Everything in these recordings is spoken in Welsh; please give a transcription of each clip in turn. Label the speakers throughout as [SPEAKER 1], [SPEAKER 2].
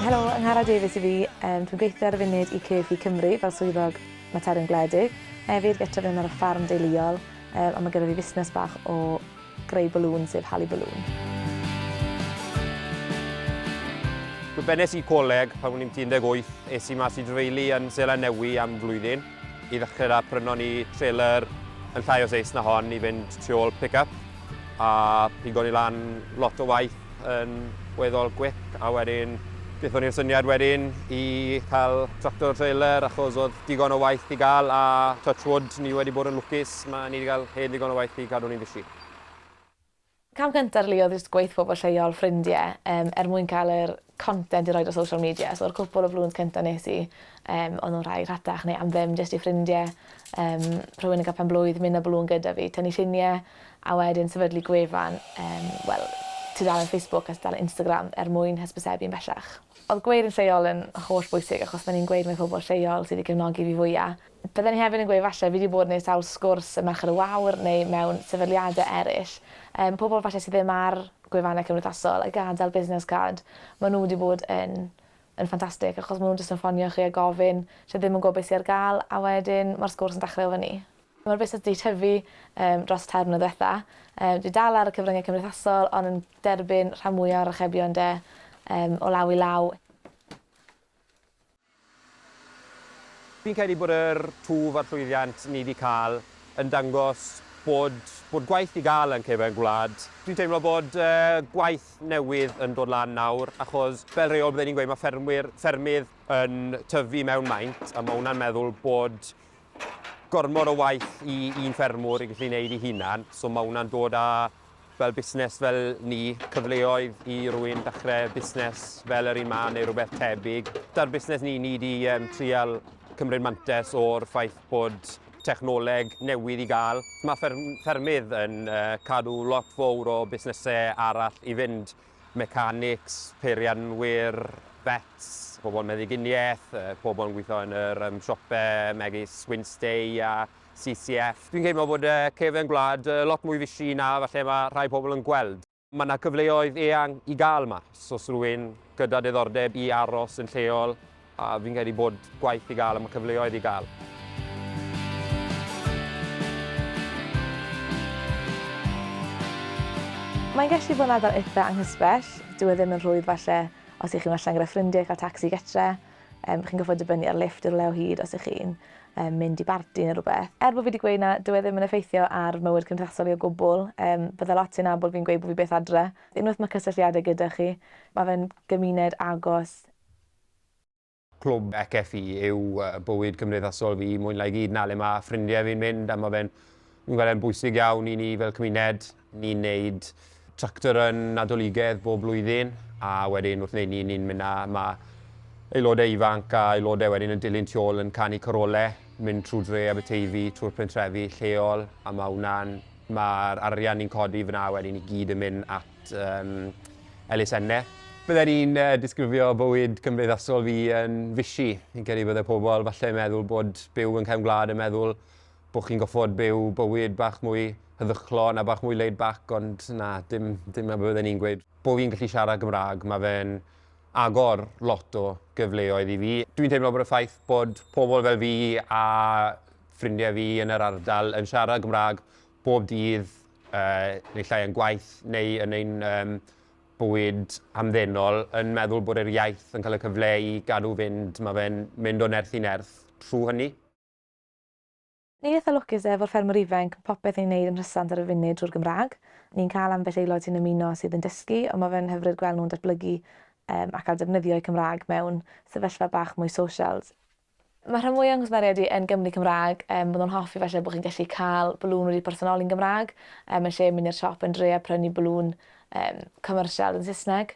[SPEAKER 1] Helo, Angharad Davies i fi. Um, dwi'n gweithio ar y funud i CFI Cymru fel swyddog materion gwledig. Hefyd gyda fi yn ar y ffarm deuluol, um, a mae gyda fi fusnes bach o greu balŵn sef Hali Balloon.
[SPEAKER 2] Fe bennes i coleg pan o'n i'n 18, es i mas i dreulu yn Seland Newy am flwyddyn i ddechrau da, prynon ni trailer yn llai o seis na hon i fynd tu ôl pick-up a pigo ni lan lot o waith yn weddol gwip a wedyn dethon ni'r syniad wedyn i cael tractor trailer achos oedd digon o waith i gael a touch wood ni wedi bod yn lwcus Mae ni 'di cael hel digon o waith i cadw ni'n fishi.
[SPEAKER 1] Cam cynta rili oedd jyst gweith pobl lleol, ffrindie, yym er mwyn cael yr content i roid ar social media so yr cwpwl o flwydd cynta nes i yym o'n nhw'n rhai rhatach neu am ddim jyst i ffrindie yym rhywun yn cael penblwydd myn a balŵn gyda fi tynnu llunie a wedyn sefydlu gwefan yym wel tudalen Facebook a tudalen Instagram er mwyn hysbysebu'n bellach. Oedd gweud yn lleol yn holl bwysig achos ma' ni'n gweud mae pobl lleol sydd i gefnogi fi fwya. Bydden i hefyd yn gweud falle fi 'di bod neu sawl sgwrs ym Merched y Wawr neu mewn sefydliade eryll, yym pobl falle sy ddim ar gwefanne cymdeithasol a gadel business card ma' nhw 'di bod yn yn ffantastig achos ma' nhw'n jyst yn ffonio chi a gofyn lle ddim yn gwbo be sy ar ga'l a wedyn ma'r sgwrs yn dechre o fyny. Ma'r busnes 'di tyfu yym dros tair mlynedd dwetha. Yy dwi dal ar y cyfrynge cymdeithasol on' yn derbyn rhan mwya o'r archebion 'de yym o law i law.
[SPEAKER 2] Fi'n credu bod yr twf a'r llwyddiant ni 'di cael yn dangos bod bod gwaith i gael yn cefn gwlad. Dwi'n teimlo bod gwaith newydd yn dod lan nawr achos fel rheol bydden ni'n gweud mae ffermwyr, ffermydd yn tyfu mewn maint a mae hwnna'n meddwl bod gormod o waith i un ffermwr i gallu wneud ei hunan, so mae hwnna'n dod â fel busnes fel ni, cyfleoedd i rywun ddechre busnes fel yr un 'ma neu rhywbeth tebyg. 'Da'r busnes ni, ni 'di um, trial cymryd mantes o'r ffaith bod technoleg newydd i gael. Mae fferm, ffermydd yn uh, cadw lot fawr o busnesau arall i fynd, mechanics, peirianwyr, vets, pobl meddyginiaeth, pobl yn gweithio yn yr um, siopau megis Winstay a CCF. Dwi'n teimlo bod y cefn gwlad yy lot mwy fishi na falle ma' rhai pobl yn gweld. Ma' 'na cyfleoedd eang i gael mas os rywun gyda diddordeb i aros yn lleol a fi'n credu bod gwaith i gael a ma' cyfleoedd i gael.
[SPEAKER 1] Mae'n gallu bod yn ardal itha anghysbell, dyw e ddim yn rhwydd falle os 'y chi'n allan gyda ffrindie i cael tacsi gytre. Yym chi'n gorffod dibynnu ar lifft i rywle o hyd os 'ych chi'n yym mynd i barti ne' rwbeth. Er bo fi 'di gweud na dyw e ddim yn effeithio ar mywyd cymdeithasol i o gwbwl yym bydda lot sy'n nabod fi'n gweud bo fi byth adre. Unweth ma' cysylltiade gyda chi ma' fe'n gymuned agos.
[SPEAKER 2] Clwb FFU yw bywyd cymdeithasol fi mwy na i gyd 'na le ma' ffrindie fi'n mynd a ma' fe'n fi'n gweld e'n bwysig iawn i ni fel cymuned. Ni'n wneud tractor yn Nadoligedd bob blwyddyn a wedyn wrth wneud ni ni'n mynd na mae aelodau ifanc a aelodau wedyn yn dilyn tu ôl yn canu corole, mynd trwy dre Aberteifi, trwy'r pentrefi lleol a mae hwnna'n, mae'r arian ni'n codi fyna wedyn i gyd yn mynd at um, elusenne. Bydden i'n uh, disgrifio bywyd cymdeithasol fi yn fisi. Fi'n credu bydde pobl falle yn meddwl bod byw yn cefn gwlad yn meddwl Bod chi'n goffod byw bywyd bach mwy heddychlon a bach mwy laid back ond na, dim, dim 'na be fydden i'n gweud. Bo' fi'n gallu siarad Cymraeg, ma' fe'n agor lot o gyfleoedd i fi. Dwi'n teimlo bod y ffaith bod pobl fel fi a ffrindiau fi yn yr ardal yn siarad Cymraeg bob dydd, yy, neu llai yn gwaith neu yn ein yym bywyd hamddenol, yn meddwl bod yr iaith yn cael y cyfle i gadw fynd, ma' fe'n mynd o nerth i nerth trw hynny.
[SPEAKER 1] Ni'n eitha lwcus efo'r ffermwr ifainc, ma' popeth ni'n neud yn rhysant ar y funud drwy'r Gymraeg. Ni'n cael ambell aelod sy'n ymuno sydd yn dysgu, ond ma' fe'n hyfryd gweld nhw'n datblygu ac cael defnyddio'u Cymraeg mewn sefyllfa bach mwy social. Mae rhan mwya' o'n cwsmeriaid i yn Gymry Cymraeg, bydde nhw'n hoffi falle bod chi'n gallu cael balŵn wedi personoli'n Gymraeg, yn lle mynd i'r siop yn dre a prynu balŵn commercial yn Saesneg.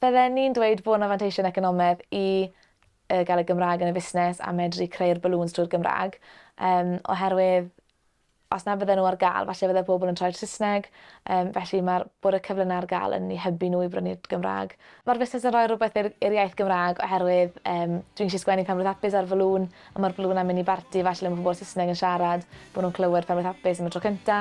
[SPEAKER 1] Bydde ni'n dweud bod 'na fanteision economedd i y gael y Gymraeg yn y fusnes a medru creu'r balŵns drwy'r Gymraeg yym oherwydd os na fydden nhw ar gael falle fydde pobl yn troi'r Saesneg yym felly ma'r bod y cyfle 'na ar gael yn eu hybu nhw i brynu'r Gymraeg. Ma'r fusnes yn rhoi rhywbeth i'r i'r iaith Gymraeg oherwydd yym dwi'n gallu sgwennu Penblwydd Hapus ar y falŵn a ma'r balŵn am mynd i barti falle le ma' pobol Saesneg yn siarad bo' nhw'n clywed Penblwydd Hapus am y tro cynta.